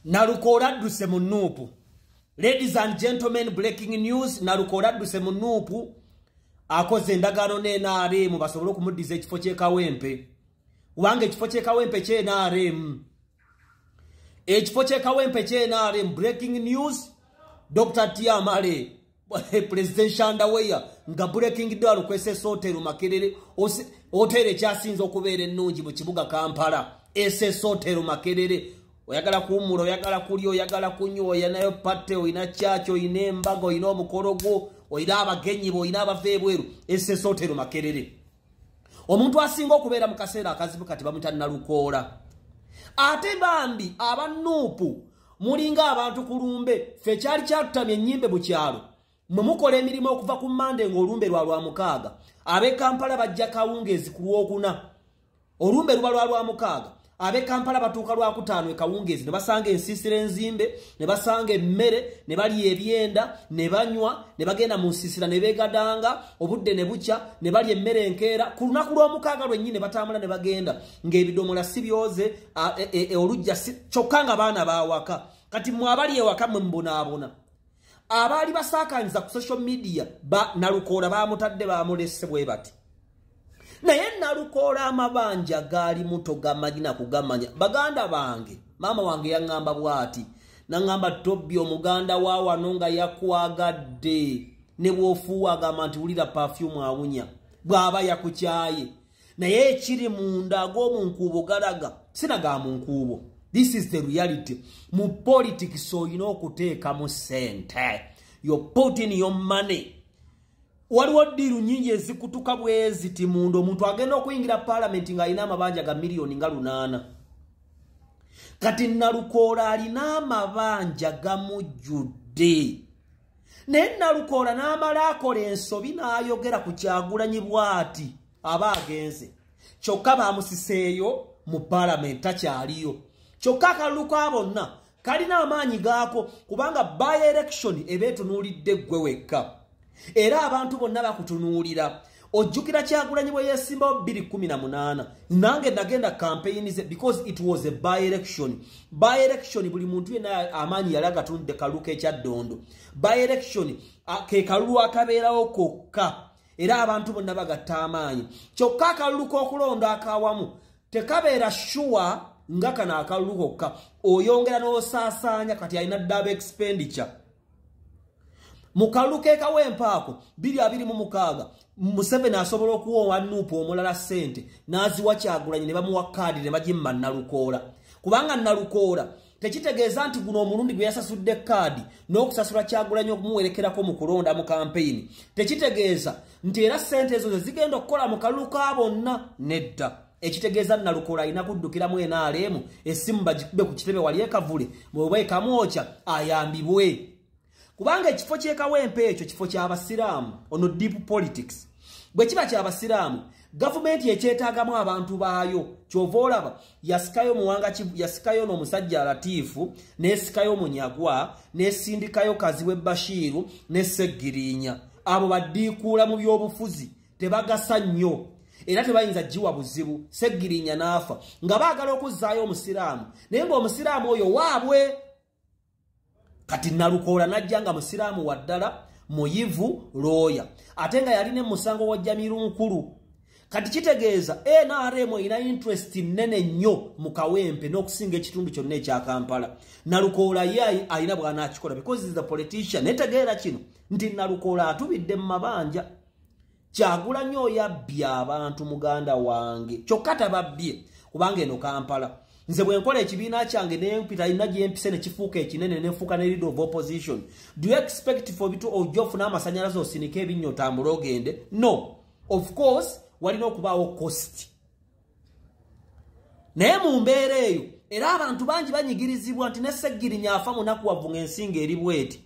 nalukoola adduse mu nuupu ladies and gentlemen breaking news nalukoola adduse mu nuupu akoze endagaano ne nrm basobole okumuddiza ekifo kyekawempe kubanga ekifo kyekawempe kye nrm ekifo kyekawempe kye nrm breaking news dr tiamale presidential underwear nga breaking down kwesesa otero makerere otero ekyasinze okubeera ennungi mu kibuga kampala esesa otero makerere oyagala kuwumula oyagala kulya oyagala kunywa oyinayo patte olina kyaki olina embaga olina omukolo gwo olina abagenyi bo olina abava ebweru esesa otero makerere omuntu asinga okubeera mu kaseera akazibu kati bamuta nalukoola ate bambi aba nuupu mulinga abantu ku lumbe fe kyali kyatutamya ennyimbe mu kyalo mwe mukola emirimu okuva ku mande ng'olumbe lwa lwa mukaaga ab'e kampala bajja kawungeezi ku lwokuna olumbe luba lwa lwamukaaga abe kampala batuuka lwakutaano ekawungeezi ne basanga ensiisira enzimbe ne basanga emmere ne balya ebyenda ne banywa ne bagenda mu nsiisira ne beegadanga obudde ne bukya ne balya emmere enkeera ku lunaku lw'omukaaga lwennyini ne batambula ne bagenda ng'ebidomola si byoze e, e, e, olujja kyokka nga baana baawaka kati mwe abali ewaka mwe mubonaabona abaali basaakanyiza ku social media nalukoola bamutadde bamulese bwe bati naye nalukoola amabanja gaali muto gamanyina kugamanya baganda bange maama wange yaŋŋamba bwati naŋŋamba tobbi omuganda wa wano nga yakwagadde ne bwofuuwa agamba nti wulira pafyumu awunya bw'aba yakukyaye naye ekiri munda ag'omunkuubo galaga sina ga munkuubo this is the reality mu politics olina okuteekamu sente yo putin yo money waliwo ddiiru nyingi ezikutuka bweziti munda omuntu agenda okuyingira palamenti ng'alina amabanja ga miliyoni nga lunaana kati nalukoola alina amabanja gamujjudde naye nalukoola n'amala akola ensobi n'ayogera ku kyagulanyi bwati aba agenze kyokka bamusiseeyo mu palamenti takyaliyo kyokka akalulu ka bonna kalina amaanyi gaako kubanga by election eba etunuulidde ggwe wekka era abantu bonna bakutunuulira ojjukira kyagulanyi bwe yesimbawo 218 nange nagenda kampeyini ze because it was a by election by election buli muntu yena amaanyi yali agatunudde kalulu kekyaddondo by election ke kalulu akabeerawo kokka era abantu bonna bagatta amaanyi kyokka akalulu k'okulonda akawamu tekabeera shuwa nga kano akalulu kokka oyongera n'osaasaanya kati alina ddaaba expenditure mu kalulu kekawa empaako 226 museveni asobola okuwa owa nuupu omulala sente n'aziwa kyagulanyi ne bamuwa kaadi ne bagimma nalukoola kubanga nalukoola tekitegeeza nti guno omulundi gwe yasasudde kaadi n'okusasula kyagulanyi okumuwerekerako mu kulonda mu kampeyini tekitegeeza nti era sente ezo ze zigenda okukola mu kalulu ka bonna nedda ekitegeeza nalukoola alina kuddukiramu enaaleemu essimu bagikube ku kitebe wali ekavule mweba ekamwokya ayambibwe kubanga ekifo kyekawempe ekyo kifo kyabasiraamu ono deep politics bwe kiba kyabasiraamu gavumenti ekyetaagamu abantu baayo kyova olaba yasikayo muwanga yasikayo n'omusajja alatiifu nesikayo munyagwa nesindikayo kaziwe bashiiru neseggiriinya abo badiikuula mu by'obufuzi tebagasa nnyo era tebayinza giwa buzibu seggirinya n'afa nga baagala okuzzaayo omusiraamu naye ng'omusiraamu oyo waabwe kati nalukoola n'ajja nga musiraamu wa ddala muyivu looya ate nga yalina emusango wa jamiru nkulu kati kitegeeza nrm erina interest nnene nnyo mu kawempe n'okusinga ekitundu kyonna ekya kampala nalukoola ye alina bwanaakikola because the politician netegeera kino nti nalukoola atubidde mu mabanja kyagulanyi oyabbye abantu muganda wange kyokka tababbye kubanga eno kampala nze bwe nkola ekibiina kyange nempita alina gyempise ne kifuuka ekinene nenfuuka ne leader of opposition do you expect for bitu ojja ofuna amasanyalaze osinike ebinnyo otambule ogende no of course walina okubaawo costi naye mu mbeera eyo era abantu bangi banyigirizibwa nti ne seggirinya afa munakuwavu ng'ensinga eri bweti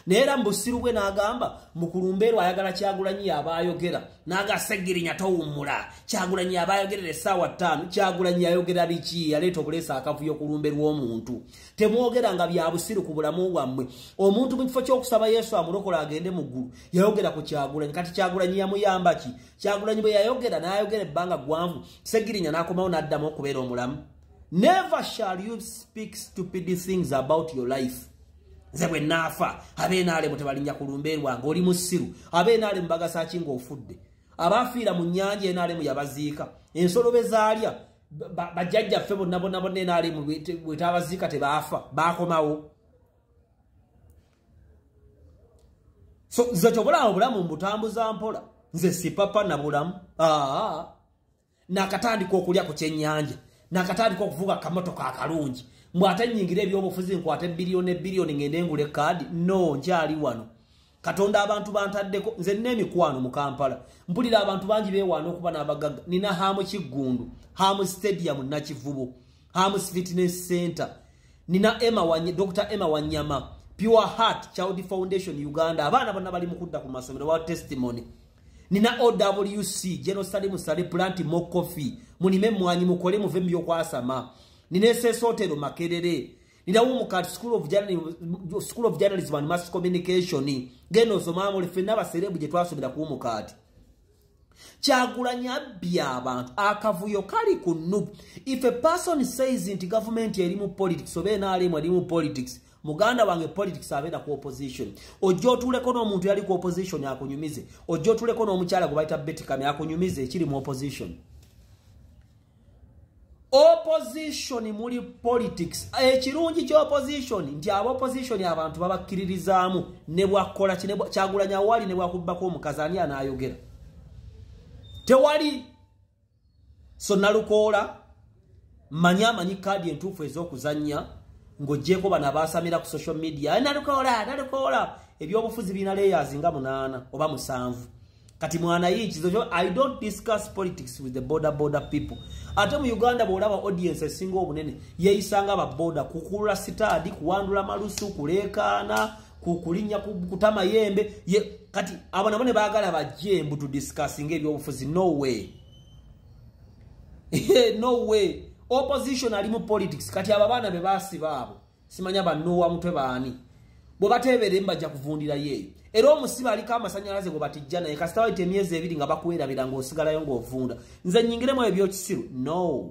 naye era mu busiru bwe n'agamba mukulumbeerw ayagala kyagulanyi yaba ayogera naga seggirinya towummula kyagulanyi yaba ayogerera essaawa ttaano kyagulanyi yayogera biki yaleeta obuleesa akavuyo kulumbe lw'omuntu temwogera nga bya busiru ku bulamu bwammwe omuntu mu kifo ky'okusaba yesu amulokola agende mu ggulu yayogera ku kyagulanyi kati kyagulanyi yamuyamba ki kyagulanyi bwe yayogera n'ayogera ebbanga ggwanvu segirinya n'akomawo n'addamu okubeera omulamu never shall you speak stupid things about your life nze bwe naafa abeenaalemu tebalinnya ku lumbe lwange oli musiru abeenaalemu bagasa ki ng'ofudde abaafiira mu nnyanja enaalemu yabaziika ensolo be zaalya bajjajja ffe bonna bonna bonna enaalemu bwetaabaziika tebaafa baakomawo so nze kyobulawo obulamu mbutambuza mpola nze sipapa nabulamu aa nakatandika okulya ku kyenyanja nakatandika okuvuga kamotoka akalungi mbw ate nyingira ebyobufuzi nkwate biliyoni ebiliyoni ngende ngule kaadi no nkyali wano katonda abantu bantaddeko nze nina emikwano mu kampala mpulira abantu bangi bewaana okuba n'abagagga nina haamu kiggundu haamu stadium nakivubo Hams Fitness Center, Nina Emma Wanya, Dr. Emma Wanyama, Pure Heart Child Foundation Uganda, abana bona bali mukudda ku masomero wa testimony. Nina OWC, General Sali Musale Plant Mo Coffee, munime mwanyi mukole muve myo kwasama. Nina SS Hotel Makerere. Nina Umukat School of Journalism, School of Journalism and Mass Communication. Geno Zomamo, Lefenaba Serebu Jetwaso Bida Kuumukati. kyagulanyi abbye abantu akavuyo kali ku nub if a person says nti gavumenti eri mu politics oba enaalemu eri mu politics muganda wange politics abeera ku opposition ojja otuleko n'omuntu yali ku opposition akunyumize ojja otuleko n'omukyala gwe bayita betikame akunyumize ekiri mu opposition opposition muli politics ekirungi eh, ky'opposition nti aba opposition abantu babakkiririzaamu ne bwakkola kyagulanya wali ne bwakubbako omukazi ani anaayogera tewali so nalukoola manya amanyi kaadi entuufu ez'okuzannya ng'ogyeko bano abaasamira ku social media eh, nalukoola nalukoola ebyobufuzi birina leyazi nga munaana oba musanvu kati mwana yikizo kyo i don't discuss politics with the border border people ate mu uganda bwolaba audience esinga obunene yeyisanga ababoda kukulula sitaadi kuwandula malusu kuleekaana kukulinya kutama yembe ye, kati abo nabo ne baagala bajje mbu tudiscussinga ebyobufuzi no way no way opposition ali mu politics kati abo abaana be basiba abo simanya banoowa mutwe baani bwe bateeberemu bajja kuvundira yeeyo era omusibe aliko amasanyalaze gwe batijja naye kasita wayita emyezi ebiri nga bakwerabira ng'osigalayo ng'ovunda nze nyingiremu ebyo byokisiru no